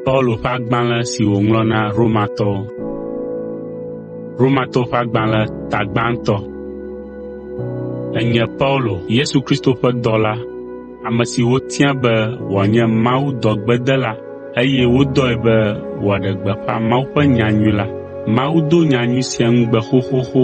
Paulo ƒe agbalẽ si wòŋlɔ na Romatɔwo. Romatɔwo ƒe agbalẽ ta gbãtɔ. Enye Paulo, Yesu Kristo ƒe dɔla, ame si wotia be wòanye Mawu dɔgbedela eye wodɔe be wòaɖe gbeƒã Mawu ƒe nyanyui la. Mawu do nyanyui sia ŋugbe xoxoxo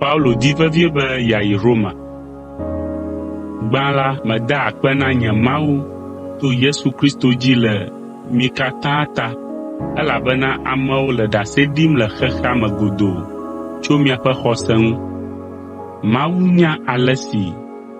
Paulo di vevie be yeayi Roma. Gbã la, meda akpe na nye Mawu to Yesu Kristo dzi le mi katã ta elabena amewo le ɖase ɖim le xexea me godoo tso miaƒe xɔse ŋu. Mawu nya ale si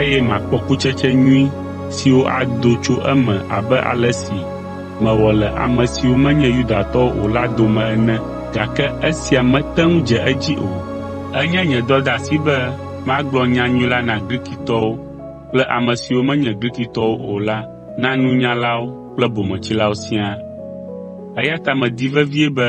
eye makpɔ kutsetse nyui siwo ado tso eme abe ale si mewɔ le ame siwo menye Yudatɔwo o la dome ene. Gake esia mete ŋu dze edzi o. Enye nye dɔdeasi be magblɔ nyanyui la na Grikitɔwo kple ame siwo menye Grikitɔwo o la na nunyalawo kple bometsilawo siaa. Eya ta medi vevie be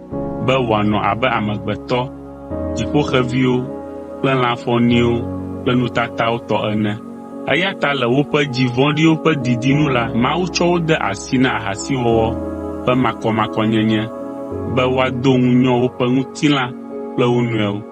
be wòanɔ abe amegbetɔ, dziƒoxeviwo kple lã fɔ̃niwo ƒe nutatawo tɔ ene. Eya ta le woƒe dzi vɔ̃ɖiwo ƒe didi nu la, Mawu tsɔ wo de asi na ahasiwɔwɔ ƒe makɔmakɔnyenye be woado ŋu nyɔ woƒe ŋutilã kple wo nɔewo.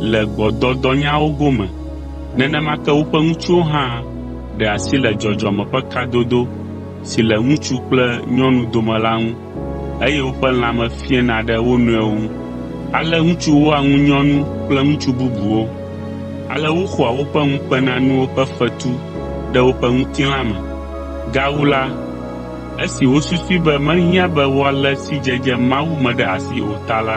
le gbɔdɔdɔnyawo gome. Nenema ke woƒe ŋutsuwo hã ɖe asi le dzɔdzɔme ƒe kadodo si le ŋutsu kple nyɔnu dome la ŋu, eye woƒe lãme fiẽna ɖe wo nɔewo ŋu. Ale ŋutsu wɔa ŋu nyɔnu kple ŋutsu bubuwo. Ale woxɔa woƒe ŋukpenanuwo ƒe fetu ɖe woƒe ŋutilã me. Gawu la, esi wosusui be mehiã be woalé sidzedze Mawu me ɖe asi o ta la,